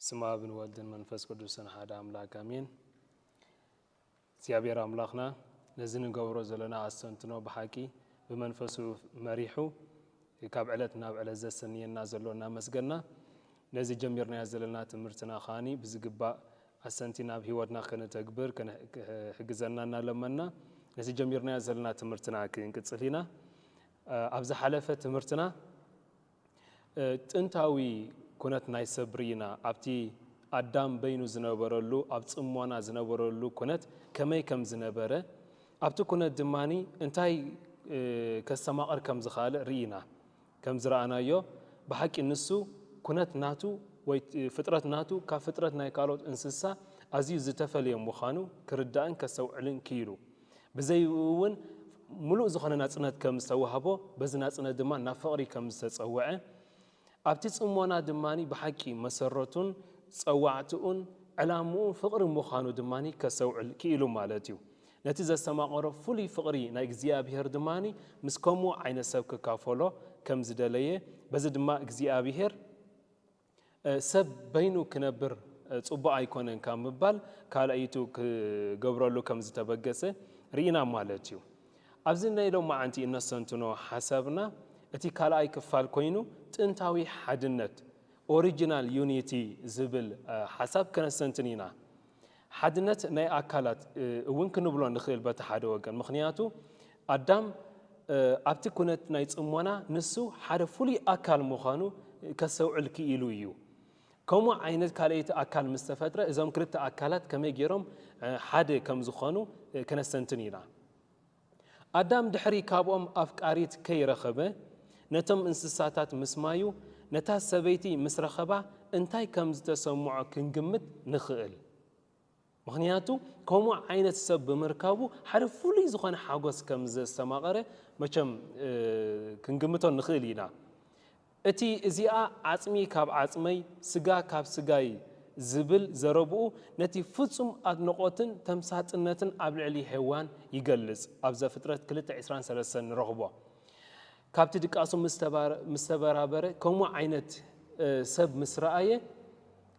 ስም ኣብን ወልድን መንፈስ ቅዱስን ሓደ ኣምላክ ኣሜን። እግዚኣብሔር ኣምላኽና ነዚ ንገብሮ ዘለና ኣስተንትኖ ብሓቂ ብመንፈሱ መሪሑ ካብ ዕለት ናብ ዕለት ዘሰንየና ዘሎ እናመስገና፣ ነዚ ጀሚርናዮ ዘለና ትምህርትና ከኣ ብዝግባእ ኣሰንቲና ኣብ ህይወትና ከነተግብር ክሕግዘና እናለመንና ነዚ ጀሚርናዮ ዘለና ትምህርትና ክንቅጽል ኢና። ኣብ ዝሓለፈ ትምህርትና ጥንታዊ ኩነት ናይ ሰብ ርኢና፣ ኣብቲ ኣዳም በይኑ ዝነበረሉ ኣብ ጽሞና ዝነበረሉ ኩነት ከመይ ከም ዝነበረ ኣብቲ ኩነት ድማ እንታይ ከስተማቕር ከም ዝኸኣል ርኢና። ከም ዝረኣናዮ ብሓቂ ንሱ ኩነት ናቱ ወይ ፍጥረት ናቱ ካብ ፍጥረት ናይ ካልኦት እንስሳ ኣዝዩ ዝተፈልየ ምዃኑ ክርዳእን ከስተውዕልን ክኢሉ። ብዘይኡ እውን ምሉእ ዝኾነ ናጽነት ከም ዝተዋህቦ በዚ ናጽነት ድማ ናብ ፍቕሪ ከም ዝተጸውዐ ኣብቲ ጽሞና ድማ ብሓቂ መሰረቱን ጸዋዕታኡን ዕላምኡን ፍቕሪ ምዃኑ ድማ ከስተውዕል ክኢሉ ማለት እዩ። ነቲ ዘስተማቐሮ ፍሉይ ፍቕሪ ናይ እግዚኣብሔር ድማ ምስ ከምኡ ዓይነት ሰብ ክካፈሎ ከም ዝደለየ በዚ ድማ እግዚኣብሔር ሰብ በይኑ ክነብር ጽቡቕ ኣይኮነን ካብ ምባል ካልኣይቱ ክገብረሉ ከም ዝተበገሰ ርኢና ማለት እዩ። ኣብዚ ናይ ሎማዓንቲ እነስተንትኖ ሓሳብና እቲ ካልኣይ ክፋል ኮይኑ ጥንታዊ ሓድነት፣ Original Unity፣ ዝብል ሓሳብ ከነስተንትን ኢና። ሓድነት ናይ ኣካላት እውን ክንብሎ ንኽእል በቲ ሓደ ወገን ምኽንያቱ ኣዳም ኣብቲ ኩነት ናይ ጽሞና ንሱ ሓደ ፍሉይ ኣካል ምዃኑ ከስተውዕል ክኢሉ እዩ። ከምኡ ዓይነት ካልኣይቲ ኣካል ምስ ተፈጥረ እዞም ክልተ ኣካላት ከመይ ገይሮም ሓደ ከም ዝኾኑ ክነስተንትን ኢና። ኣዳም ድሕሪ ካብኦም ኣፍቃሪት ከይረኸበ ነቶም እንስሳታት ምስማዩ ነታ ሰበይቲ ምስ ረኸባ እንታይ ከም ዝተሰምዖ ክንግምት ንኽእል። ምኽንያቱ ከምኡ ዓይነት ሰብ ብምርካቡ ሓደ ፍሉይ ዝኾነ ሓጎስ ከም ዘስተማቐረ መቸም ክንግምቶ ንኽእል ኢና። እቲ እዚኣ ዓጽሚ ካብ ዓጽመይ፣ ስጋ ካብ ስጋይ ዝብል ዘረብኡ ነቲ ፍጹም ኣድንቖትን ተምሳጥነትን ኣብ ልዕሊ ሄዋን ይገልጽ፣ ኣብ ዘፍጥረት ክልተ ዕስራን ሰለስተን ንረኽቦ። ካብቲ ድቃሱ ምስ ተበራበረ ከምኡ ዓይነት ሰብ ምስ ረኣየ፣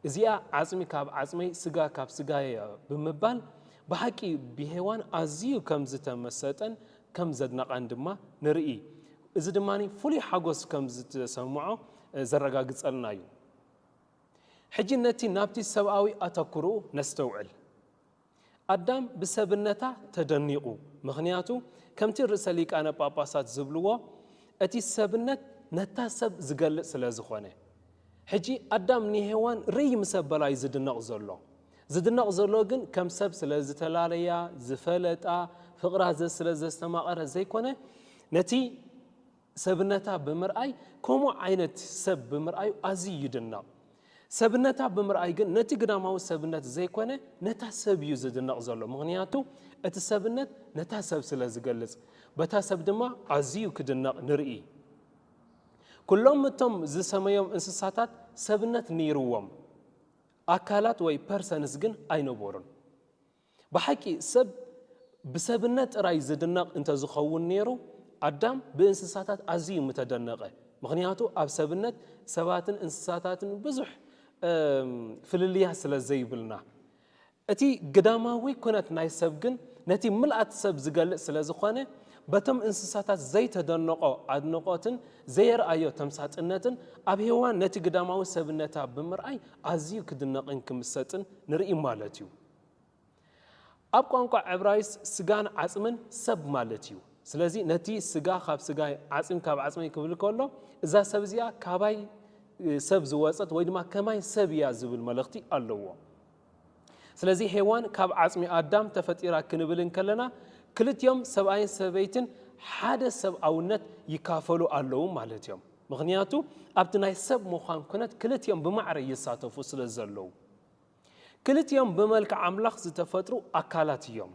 እዚኣ ዓጽሚ ካብ ዓጽመይ ስጋ ካብ ስጋየ'ያ ብምባል ብሓቂ ብሄዋን ኣዝዩ ከም ዝተመሰጠን ከም ዘድነቓን ድማ ንርኢ። እዚ ድማ ፍሉይ ሓጐስ ከም ዝተሰምዖ ዘረጋግጸልና'ዩ። ሕጂ ነቲ ናብቲ ሰብኣዊ ኣተኵሮኡ ነስተውዕል። ኣዳም ብሰብነታ ተደኒቑ ምኽንያቱ ከምቲ ርእሰ ሊቃነ ጳጳሳት ዝብልዎ እቲ ሰብነት ነታ ሰብ ዝገልጽ ስለ ዝኾነ። ሕጂ ኣዳም ንሄዋን ርእይ ምስ ኣበላ እዩ ዝድነቕ ዘሎ። ዝድነቕ ዘሎ ግን ከም ሰብ ስለ ዝተላለያ፣ ዝፈለጣ፣ ፍቕራ ስለ ዘስተማቐረ ዘይኮነ ነቲ። ሰብነታ ብምርኣይ ከምኡ ዓይነት ሰብ ብምርኣዩ ኣዝዩ ይድነቕ። ሰብነታ ብምርኣይ ግን ነቲ ግዳማዊ ሰብነት ዘይኮነ ነታ ሰብ እዩ ዝድነቕ ዘሎ ምኽንያቱ እቲ ሰብነት ነታ ሰብ ስለ ዝገልጽ በታ ሰብ ድማ ኣዝዩ ክድነቕ ንርኢ። ኩሎም እቶም ዝሰመዮም እንስሳታት ሰብነት ነይርዎም ኣካላት ወይ ፐርሰንስ ግን ኣይነበሩን። ብሓቂ ሰብ ብሰብነት ጥራይ ዝድነቕ እንተ ዝኸውን ነይሩ፣ ኣዳም ብእንስሳታት ኣዝዩ ምተደነቐ። ምኽንያቱ ኣብ ሰብነት ሰባትን እንስሳታትን ብዙሕ ፍልልያት ስለ ዘይብልና። እቲ ግዳማዊ ኩነት ናይ ሰብ ግን ነቲ ምልኣት ሰብ ዝገልጽ ስለ ዝኾነ፣ በቶም እንስሳታት ዘይተደነቖ ኣድንቖትን ዘየርኣዮ ተምሳጥነትን ኣብ ሄዋን ነቲ ግዳማዊ ሰብነታ ብምርኣይ ኣዝዩ ክድነቕን ክምሰጥን ንርኢ ማለት እዩ። ኣብ ቋንቋ ዕብራይስጥ ስጋን ዓጽምን ሰብ ማለት እዩ። ስለዚ ነቲ ስጋ ካብ ስጋይ ዓጽሚ ካብ ዓጽመይ ክብል ከሎ እዛ ሰብ እዚኣ ካባይ ሰብ ዝወጸት ወይ ድማ ከማይ ሰብ እያ ዝብል መልእኽቲ ኣለዎ። ስለዚ ሄዋን ካብ ዓጽሚ ኣዳም ተፈጢራ ክንብል እንከለና ክልቲኦም ሰብኣይን ሰበይትን ሓደ ሰብኣውነት ይካፈሉ ኣለዉ ማለት እዮም። ምክንያቱ ኣብቲ ናይ ሰብ ምዃን ኩነት ክልቲኦም ብማዕረ ይሳተፉ ስለ ዘለዉ። ክልቲኦም ብመልክዕ ኣምላኽ ዝተፈጥሩ ኣካላት እዮም።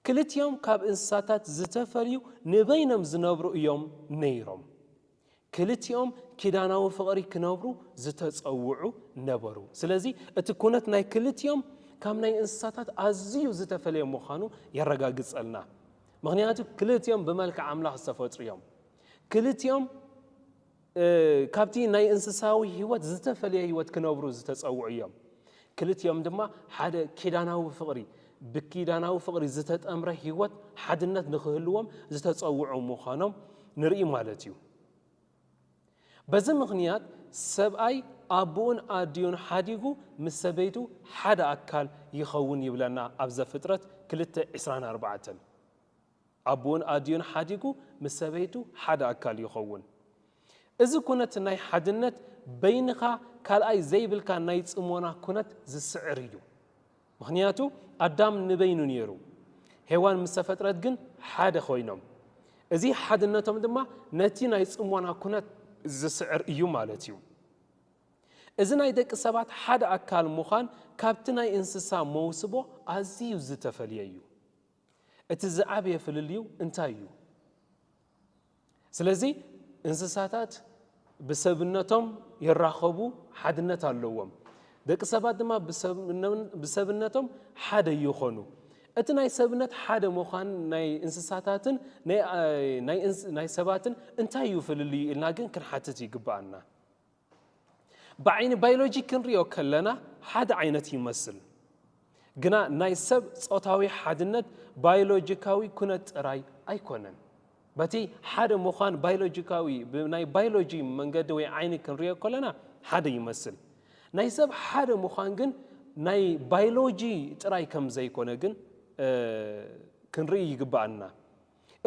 ክልቲኦም ካብ እንስሳታት ዝተፈልዩ ንበይኖም ዝነብሩ እዮም ነይሮም። ክልቲኦም ኪዳናዊ ፍቕሪ ክነብሩ ዝተጸውዑ ነበሩ። ስለዚ እቲ ኩነት ናይ ክልቲኦም ካብ ናይ እንስሳታት ኣዝዩ ዝተፈለየ ምዃኑ የረጋግጸልና። ምክንያቱ ክልቲኦም ብመልክዕ ኣምላኽ ዝተፈጥሩ እዮም። ክልቲኦም ካብቲ ናይ እንስሳዊ ህይወት ዝተፈልየ ህይወት ክነብሩ ዝተጸውዑ እዮም። ክልቲኦም ድማ ሓደ ኪዳናዊ ፍቕሪ፣ ብኪዳናዊ ፍቕሪ ዝተጠምረ ህይወት ሓድነት ንክህልዎም ዝተጸውዑ ምዃኖም ንርኢ ማለት እዩ። በዚ ምኽንያት ሰብኣይ ኣቡኡን ኣዲኡን ሓዲጉ ምስ ሰበይቱ ሓደ ኣካል ይኸውን ይብለና ኣብ ዘፍጥረት ክልተ ዕስራን ኣርባዕተን። ኣቡኡን ኣዲኡን ሓዲጉ ምስ ሰበይቱ ሓደ ኣካል ይኸውን። እዚ ኩነት ናይ ሓድነት በይንኻ ካልኣይ ዘይብልካ ናይ ጽሞና ኩነት ዝስዕር እዩ። ምኽንያቱ ኣዳም ንበይኑ ነይሩ፣ ሄዋን ምስ ተፈጥረት ግን ሓደ ኮይኖም። እዚ ሓድነቶም ድማ ነቲ ናይ ጽሞና ኩነት ዝስዕር እዩ ማለት እዩ። እዚ ናይ ደቂ ሰባት ሓደ ኣካል ምዃን ካብቲ ናይ እንስሳ መውስቦ ኣዝዩ ዝተፈልየ እዩ። እቲ ዝዓበየ ፍልልዩ እንታይ እዩ? ስለዚ እንስሳታት ብሰብነቶም ይራኸቡ ሓድነት ኣለዎም። ደቂ ሰባት ድማ ብሰብነቶም ሓደ ይኾኑ። እቲ ናይ ሰብነት ሓደ ምዃን ናይ እንስሳታትን ናይ ሰባትን እንታይ እዩ ፍልልዩ ኢልና ግን ክንሓትት ይግብኣና። ብዓይኒ ባይሎጂ ክንሪኦ ከለና ሓደ ዓይነት ይመስል ግና ናይ ሰብ ጾታዊ ሓድነት ባይሎጂካዊ ኩነት ጥራይ ኣይኮነን። በቲ ሓደ ምዃን ባይሎጂካዊ ብናይ ባይሎጂ መንገዲ ወይ ዓይኒ ክንሪኦ ከለና ሓደ ይመስል። ናይ ሰብ ሓደ ምዃን ግን ናይ ባይሎጂ ጥራይ ከም ዘይኮነ ግን ክንርኢ ይግባኣና።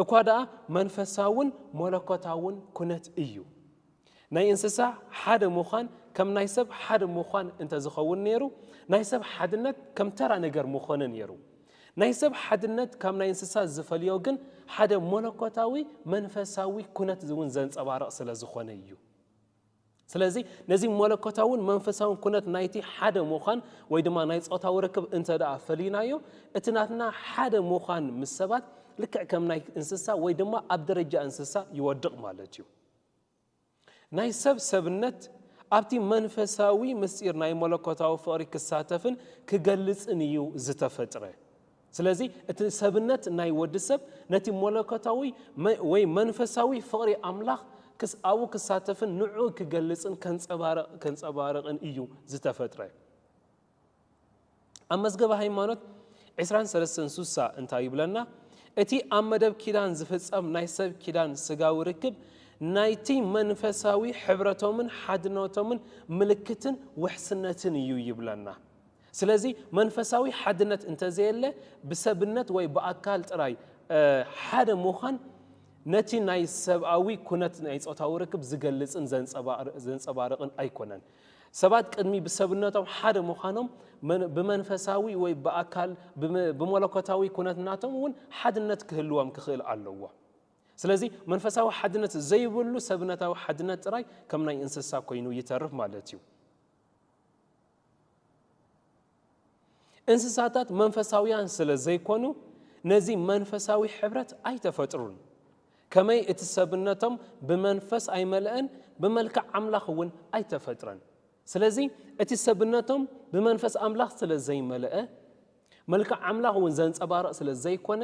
እኳ ደኣ መንፈሳውን መለኮታውን ኩነት እዩ። ናይ እንስሳ ሓደ ምዃን ከም ናይ ሰብ ሓደ ምዃን እንተ ዝኸውን ነይሩ፣ ናይ ሰብ ሓድነት ከም ተራ ነገር ምኾነ ነይሩ። ናይ ሰብ ሓድነት ካብ ናይ እንስሳ ዝፈልዮ ግን ሓደ መለኮታዊ መንፈሳዊ ኩነት እውን ዘንጸባርቕ ስለ ዝኾነ እዩ። ስለዚ ነዚ መለኮታውን መንፈሳውን ኩነት ናይቲ ሓደ ምዃን ወይ ድማ ናይ ጾታዊ ርክብ እንተ ደኣ ፈሊናዮ እቲ ናትና ሓደ ምዃን ምስ ሰባት ልክዕ ከም ናይ እንስሳ ወይ ድማ ኣብ ደረጃ እንስሳ ይወድቕ ማለት እዩ ናይ ሰብ ሰብነት ኣብቲ መንፈሳዊ ምስጢር ናይ መለኮታዊ ፍቕሪ ክሳተፍን ክገልጽን እዩ ዝተፈጥረ ስለዚ እቲ ሰብነት ናይ ወዲ ሰብ ነቲ መለኮታዊ ወይ መንፈሳዊ ፍቕሪ ኣምላኽ ኣብኡ ክሳተፍን ንዕኡ ክገልጽን ከንጸባርቕን እዩ ዝተፈጥረ። ኣብ መዝገበ ሃይማኖት ዕስራን ሰለስተን ሱሳ እንታይ ይብለና? እቲ ኣብ መደብ ኪዳን ዝፍጸም ናይ ሰብ ኪዳን ስጋዊ ርክብ ናይቲ መንፈሳዊ ሕብረቶምን ሓድነቶምን ምልክትን ውሕስነትን እዩ ይብለና። ስለዚ መንፈሳዊ ሓድነት እንተዘየለ ብሰብነት ወይ ብኣካል ጥራይ ሓደ ምዃን ነቲ ናይ ሰብኣዊ ኩነት ናይ ጾታዊ ርክብ ዝገልጽን ዘንጸባርቕን ኣይኮነን። ሰባት ቅድሚ ብሰብነቶም ሓደ ምዃኖም ብመንፈሳዊ ወይ ብኣካል ብመለኮታዊ ኩነት ናቶም እውን ሓድነት ክህልዎም ክኽእል ኣለዎ። ስለዚ መንፈሳዊ ሓድነት ዘይብሉ ሰብነታዊ ሓድነት ጥራይ ከም ናይ እንስሳ ኮይኑ ይተርፍ ማለት እዩ። እንስሳታት መንፈሳውያን ስለ ዘይኰኑ ነዚ መንፈሳዊ ሕብረት ኣይተፈጥሩን። ከመይ እቲ ሰብነቶም ብመንፈስ ኣይመልእን ብመልክዕ ኣምላኽ እውን ኣይተፈጥረን። ስለዚ እቲ ሰብነቶም ብመንፈስ ኣምላኽ ስለ ዘይመልአ መልክዕ ኣምላኽ እውን ዘንጸባርቕ ስለ ዘይኰነ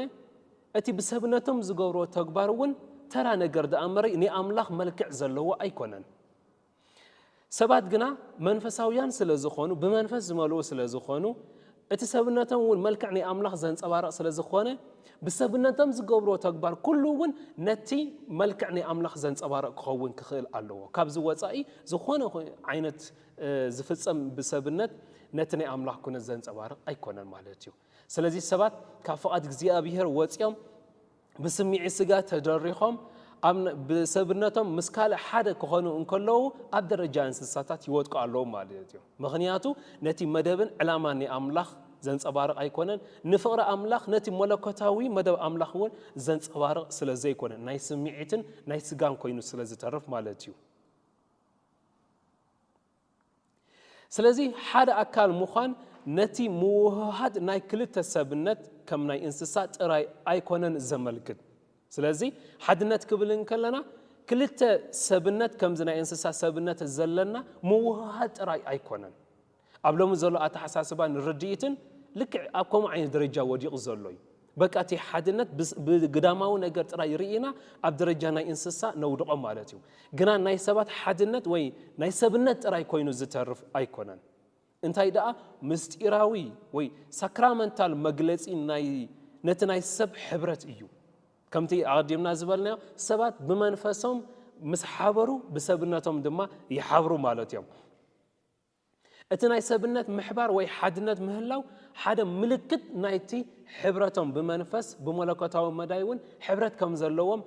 እቲ ብሰብነቶም ዝገብርዎ ተግባር እውን ተራ ነገር ደኣ እምበሪ ናይ ኣምላኽ መልክዕ ዘለዎ ኣይኰነን። ሰባት ግና መንፈሳውያን ስለ ዝዀኑ፣ ብመንፈስ ዝመልኡ ስለ ዝዀኑ፣ እቲ ሰብነቶም እውን መልክዕ ናይ ኣምላኽ ዘንጸባርቕ ስለ ዝዀነ፣ ብሰብነቶም ዝገብርዎ ተግባር ኵሉ እውን ነቲ መልክዕ ናይ ኣምላኽ ዘንጸባርቕ ክኸውን ክኽእል ኣለዎ። ካብዚ ወጻኢ ዝዀነ ዓይነት ዝፍጸም ብሰብነት ነቲ ናይ ኣምላኽ ኵነት ዘንጸባርቕ ኣይኰነን ማለት እዩ። ስለዚ ሰባት ካብ ፍቓድ እግዚኣብሄር ወጺኦም ብስምዒት ስጋ ተደሪኾም ብሰብነቶም ምስ ካልእ ሓደ ክኾኑ እንከለዉ ኣብ ደረጃ እንስሳታት ይወድቁ ኣለዉ ማለት እዮም። ምኽንያቱ ነቲ መደብን ዕላማን ናይ ኣምላኽ ዘንጸባርቕ ኣይኮነን። ንፍቕሪ ኣምላኽ ነቲ መለኮታዊ መደብ ኣምላኽ እውን ዘንጸባርቕ ስለ ዘይኮነ ናይ ስምዒትን ናይ ስጋን ኮይኑ ስለ ዝተርፍ ማለት እዩ። ስለዚ ሓደ ኣካል ምዃን ነቲ ምውህሃድ ናይ ክልተ ሰብነት ከም ናይ እንስሳ ጥራይ ኣይኮነን ዘመልክት። ስለዚ ሓድነት ክብል እንከለና ክልተ ሰብነት ከምዚ ናይ እንስሳ ሰብነት ዘለና ምውህሃድ ጥራይ ኣይኮነን። ኣብ ሎሚ ዘሎ ኣተሓሳስባን ርድኢትን ልክዕ ኣብ ከምኡ ዓይነት ደረጃ ወዲቑ ዘሎ እዩ። በቃ እቲ ሓድነት ብግዳማዊ ነገር ጥራይ ርኢና ኣብ ደረጃ ናይ እንስሳ ነውድቖም ማለት እዩ። ግና ናይ ሰባት ሓድነት ወይ ናይ ሰብነት ጥራይ ኮይኑ ዝተርፍ ኣይኮነን። እንታይ ደኣ ምስጢራዊ ወይ ሳክራመንታል መግለጺ ናይ ነቲ ናይ ሰብ ሕብረት እዩ። ከምቲ ኣቐዲምና ዝበልናዮ ሰባት ብመንፈሶም ምስ ሓበሩ ብሰብነቶም ድማ ይሓብሩ ማለት እዮም። እቲ ናይ ሰብነት ምሕባር ወይ ሓድነት ምህላው ሓደ ምልክት ናይቲ ሕብረቶም ብመንፈስ ብመለኮታዊ መዳይ እውን ሕብረት ከም ዘለዎም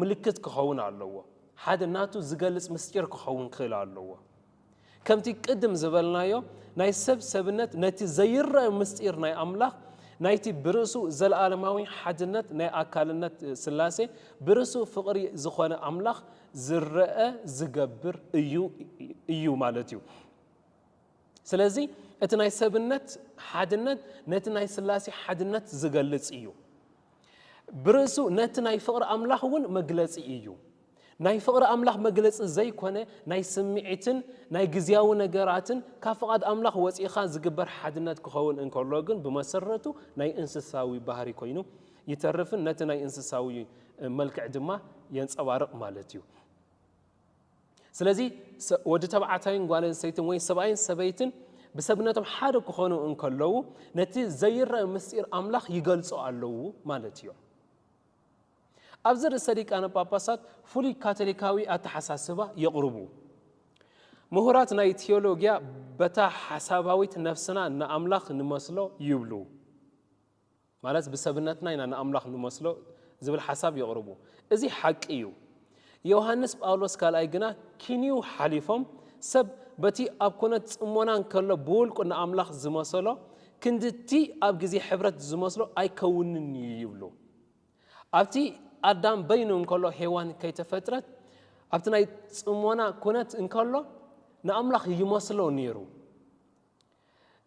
ምልክት ክኸውን ኣለዎ። ሓደ ናቱ ዝገልጽ ምስጢር ክኸውን ክእል ኣለዎ። ከምቲ ቅድም ዝበልናዮ ናይ ሰብ ሰብነት ነቲ ዘይረእ ምስጢር ናይ ኣምላኽ ናይቲ ብርእሱ ዘለኣለማዊ ሓድነት ናይ ኣካልነት ስላሴ ብርእሱ ፍቕሪ ዝኾነ ኣምላኽ ዝረኣ ዝገብር እዩ እዩ ማለት እዩ ስለዚ እቲ ናይ ሰብነት ሓድነት ነቲ ናይ ስላሴ ሓድነት ዝገልጽ እዩ ብርእሱ ነቲ ናይ ፍቕሪ ኣምላኽ እውን መግለጺ እዩ ናይ ፍቕሪ ኣምላኽ መግለጺ ዘይኮነ ናይ ስምዒትን ናይ ግዜያዊ ነገራትን ካብ ፍቓድ ኣምላኽ ወፂእኻ ዝግበር ሓድነት ክኸውን እንከሎ ግን ብመሰረቱ ናይ እንስሳዊ ባህሪ ኮይኑ ይተርፍን ነቲ ናይ እንስሳዊ መልክዕ ድማ የንጸባርቕ ማለት እዩ። ስለዚ ወዲ ተባዕታይን ጓል ኣንስተይትን ወይ ሰብኣይን ሰበይትን ብሰብነቶም ሓደ ክኾኑ እንከለዉ ነቲ ዘይረአ ምስጢር ኣምላኽ ይገልጹ ኣለዉ ማለት እዮም። ኣብዚ ርእሰ ሊቃነ ጳጳሳት ፍሉይ ካቶሊካዊ ኣተሓሳስባ የቕርቡ ምሁራት ናይ ቴዎሎጊያ በታ ሓሳባዊት ነፍስና ንኣምላኽ ንመስሎ ይብሉ ማለት ብሰብነትና ኢና ንኣምላኽ ንመስሎ ዝብል ሓሳብ የቕርቡ። እዚ ሓቂ እዩ። ዮሃንስ ጳውሎስ ካልኣይ ግና ኪንዩ ሓሊፎም ሰብ በቲ ኣብ ኩነት ጽሞና እንከሎ ብውልቁ ንኣምላኽ ዝመሰሎ ክንዲ እቲ ኣብ ግዜ ሕብረት ዝመስሎ ኣይከውንን እዩ ይብሉ። ኣብቲ ኣዳም በይኑ እንከሎ ሄዋን ከይተፈጥረት ኣብቲ ናይ ጽሞና ኩነት እንከሎ ንኣምላኽ ይመስሎ ነይሩ።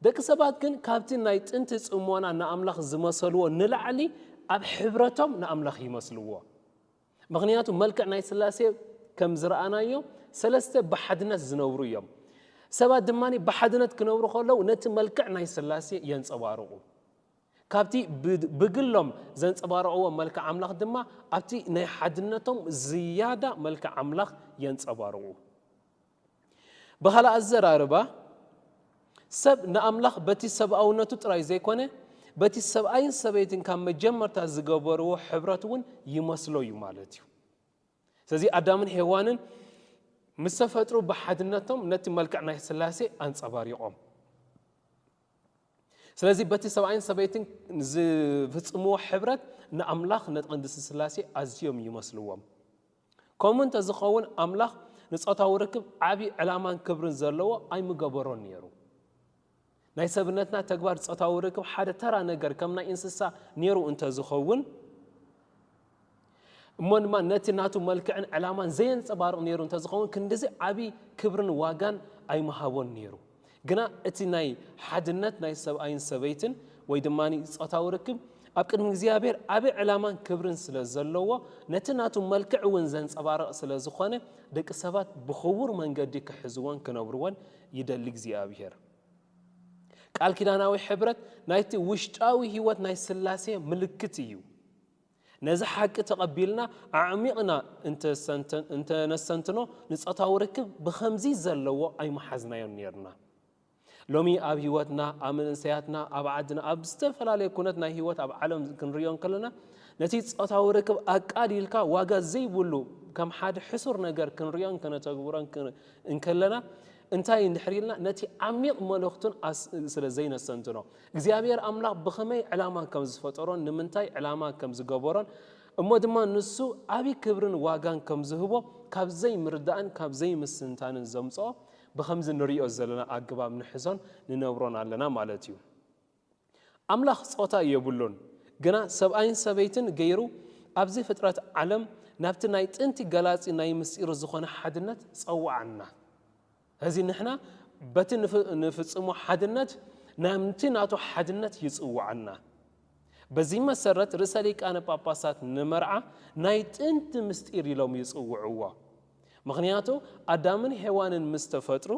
ደቂ ሰባት ግን ካብቲ ናይ ጥንቲ ጽሞና ንኣምላኽ ዝመሰልዎ ንላዕሊ ኣብ ሕብረቶም ንኣምላኽ ይመስልዎ። ምኽንያቱ መልክዕ ናይ ስላሴ ከም ዝረኣናዮ ሰለስተ ብሓድነት ዝነብሩ እዮም። ሰባት ድማ ብሓድነት ክነብሩ ከለዉ ነቲ መልክዕ ናይ ስላሴ የንጸባርቑ። ካብቲ ብግሎም ዘንጸባርቕዎ መልክዕ ኣምላኽ ድማ ኣብቲ ናይ ሓድነቶም ዝያዳ መልክዕ ኣምላኽ የንጸባርቑ። ብኻልእ ኣዘራርባ፣ ሰብ ንኣምላኽ በቲ ሰብኣውነቱ ጥራይ ዘይኰነ፣ በቲ ሰብኣይን ሰበይትን ካብ መጀመርታ ዝገበርዎ ሕብረት እውን ይመስሎ እዩ ማለት እዩ። ስለዚ ኣዳምን ሄዋንን ምስ ተፈጥሩ ብሓድነቶም ነቲ መልክዕ ናይ ስላሴ ኣንጸባሪቖም። ስለዚ በቲ ሰብኣይን ሰበይትን ዝፍጽምዎ ሕብረት ንኣምላኽ ንቅድስቲ ስላሴ ኣዝዮም ይመስልዎም። ከምኡ እንተ ዚኸውን፣ ኣምላኽ ንጾታዊ ርክብ ዓብዪ ዕላማን ክብርን ዘለዎ ኣይምገበሮን ነይሩ። ናይ ሰብነትና ተግባር ጾታዊ ርክብ ሓደ ተራ ነገር ከም ናይ እንስሳ ነይሩ እንተ ዚኸውን፣ እሞ ድማ ነቲ ናቱ መልክዕን ዕላማን ዘየንጸባርቕ ነይሩ እንተ ዚኸውን፣ ክንድዚ ዓብዪ ክብርን ዋጋን ኣይምሃቦን ነይሩ። ግና እቲ ናይ ሓድነት ናይ ሰብኣይን ሰበይትን ወይ ድማ ጾታዊ ርክብ ኣብ ቅድሚ እግዚኣብሔር ዓቢ ዕላማን ክብርን ስለ ዘለዎ ነቲ ናቱ መልክዕ እውን ዘንጸባርቕ ስለ ዝኾነ ደቂ ሰባት ብኽቡር መንገዲ ክሕዝዎን ክነብርዎን ይደሊ እግዚኣብሔር። ቃል ኪዳናዊ ሕብረት ናይቲ ውሽጣዊ ሕይወት ናይ ሥላሴ ምልክት እዩ። ነዚ ሓቂ ተቐቢልና ኣዕሚቕና እንተ ነስተንትኖ ንጾታዊ ርክብ ብኸምዚ ዘለዎ ኣይምሓዝናዮን ኔርና። ሎሚ ኣብ ህይወትና፣ ኣብ መንእሰያትና፣ ኣብ ዓድና፣ ኣብ ዝተፈላለየ ኩነት ናይ ህይወት ኣብ ዓለም ክንርእዮ እንከለና ነቲ ጾታዊ ርክብ ኣቃሊልካ ዋጋ ዘይብሉ ከም ሓደ ሕሱር ነገር ክንርእዮን ከነተግብሮን እንከለና እንታይ እንድሕር ኢልና ነቲ ዓሚቕ መልእኽቱን ስለ ዘይነስተንትኖ እግዚኣብሔር ኣምላኽ ብኸመይ ዕላማ ከም ዝፈጠሮን ንምንታይ ዕላማ ከም ዝገበሮን እሞ ድማ ንሱ ዓብይ ክብርን ዋጋን ከም ዝህቦ ካብ ዘይምርዳእን ካብ ዘይምስትንታንን ዘምፅኦ ብኸምዚ ንሪኦ ዘለና ኣገባብ ንሕዞን ንነብሮን ኣለና ማለት እዩ። ኣምላኽ ፆታ የብሉን ግና ሰብኣይን ሰበይትን ገይሩ ኣብዚ ፍጥረት ዓለም ናብቲ ናይ ጥንቲ ገላፂ ናይ ምስጢሩ ዝኾነ ሓድነት ፀወዓና። እዚ ንሕና በቲ ንፍጽሞ ሓድነት ናምቲ ናቱ ሓድነት ይጽውዓና። በዚ መሰረት ርእሰ ሊቃነ ጳጳሳት ንመርዓ ናይ ጥንቲ ምስጢር ኢሎም ይጽውዕዎ። ምኽንያቱ ኣዳምን ሄዋንን ምስ ተፈጥሩ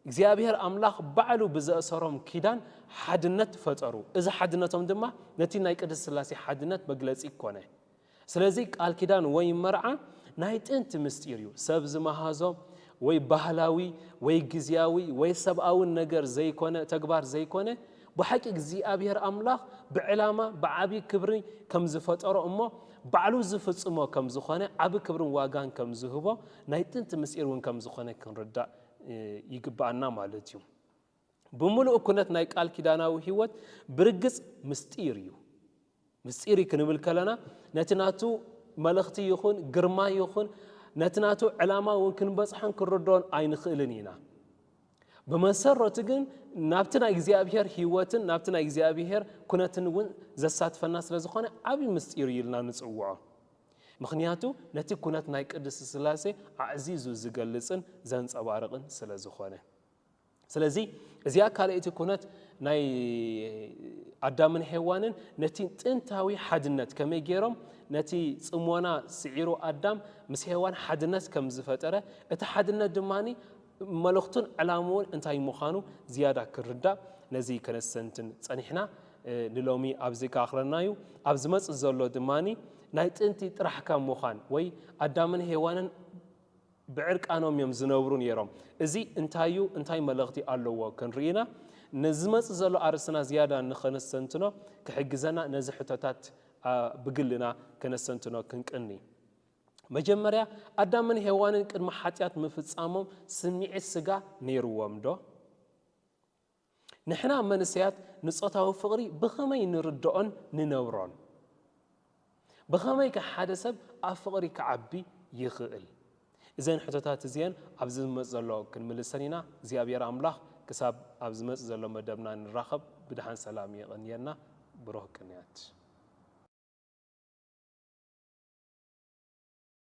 እግዚኣብሔር ኣምላኽ ባዕሉ ብዘእሰሮም ኪዳን ሓድነት ፈጠሩ። እዚ ሓድነቶም ድማ ነቲ ናይ ቅድስት ሥላሴ ሓድነት መግለጺ ኮነ። ስለዚ ቃል ኪዳን ወይ መርዓ ናይ ጥንቲ ምስጢር እዩ። ሰብ ዝመሃዞ ወይ ባህላዊ ወይ ግዝያዊ ወይ ሰብኣዊ ነገር ዘይኮነ ተግባር ዘይኮነ ብሓቂ እግዚኣብሔር ኣምላኽ ብዕላማ ብዓብይ ክብሪ ከም ዝፈጠሮ እሞ ባዕሉ ዝፍጽሞ ከም ዝኾነ ዓቢ ክብርን ዋጋን ከም ዝህቦ ናይ ጥንቲ ምስጢር እውን ከም ዝኾነ ክንርዳእ ይግብኣና ማለት እዩ። ብምሉእ ኩነት ናይ ቃል ኪዳናዊ ሕይወት ብርግጽ ምስጢር እዩ። ምስጢር እዩ ክንብል ከለና ነቲ ናቱ መልእኽቲ ይኹን ግርማ ይኹን ነቲ ናቱ ዕላማ እውን ክንበጽሖን ክንርድኦን ኣይንኽእልን ኢና። ብመሰረቱ ግን ናብቲ ናይ እግዚኣብሔር ሕይወትን ናብቲ ናይ እግዚኣብሔር ኩነትን እውን ዘሳትፈና ስለ ዝኾነ ዓብዪ ምስጢር እዩ ኢልና ንጽውዖ። ምክንያቱ ነቲ ኩነት ናይ ቅድስት ስላሴ ኣዕዚዙ ዝገልጽን ዘንጸባርቕን ስለ ዝኾነ። ስለዚ እዚኣ ካልኣይቲ ኩነት ናይ ኣዳምን ሄዋንን ነቲ ጥንታዊ ሓድነት ከመይ ገይሮም ነቲ ፅሞና ስዒሩ ኣዳም ምስ ሄዋን ሓድነት ከም ዝፈጠረ እቲ ሓድነት ድማ መልእኽቱን ዕላምኡን እንታይ ምዃኑ ዝያዳ ክርዳእ ነዚ ከነሰንትን ፀኒሕና ንሎሚ ኣብዚ ከኣኽለና እዩ ኣብ ዝመፅእ ዘሎ ድማ ናይ ጥንቲ ጥራሕ ካብ ምዃን ወይ ኣዳምን ሄዋንን ብዕርቃኖም እዮም ዝነብሩ ነይሮም። እዚ እንታይ እዩ? እንታይ መልእኽቲ ኣለዎ? ክንርኢ ኢና። ንዝመጽእ ዘሎ ኣርእስትና ዝያዳ ንኸነስተንትኖ ክሕግዘና ነዚ ሕቶታት ብግልና ከነስተንትኖ ክንቅኒ። መጀመርያ፣ ኣዳምን ሄዋንን ቅድሚ ሓጢኣት ምፍጻሞም ስምዒት ስጋ ነይርዎምዶ? ንሕና መንእሰያት ንጾታዊ ፍቕሪ ብኸመይ ንርድኦን ንነብሮን? ብኸመይከ ሓደ ሰብ ኣብ ፍቕሪ ክዓቢ ይኽእል? እዘን ሕቶታት እዚኤን ኣብዚ ዝመጽእ ዘሎ ክንምልሰን ኢና። እግዚኣብሔር ኣምላኽ ክሳብ ኣብ ዝመጽእ ዘሎ መደብና ንራኸብ ብድሓን ሰላም የቐንየልና። ብሩኽ ቅንያት።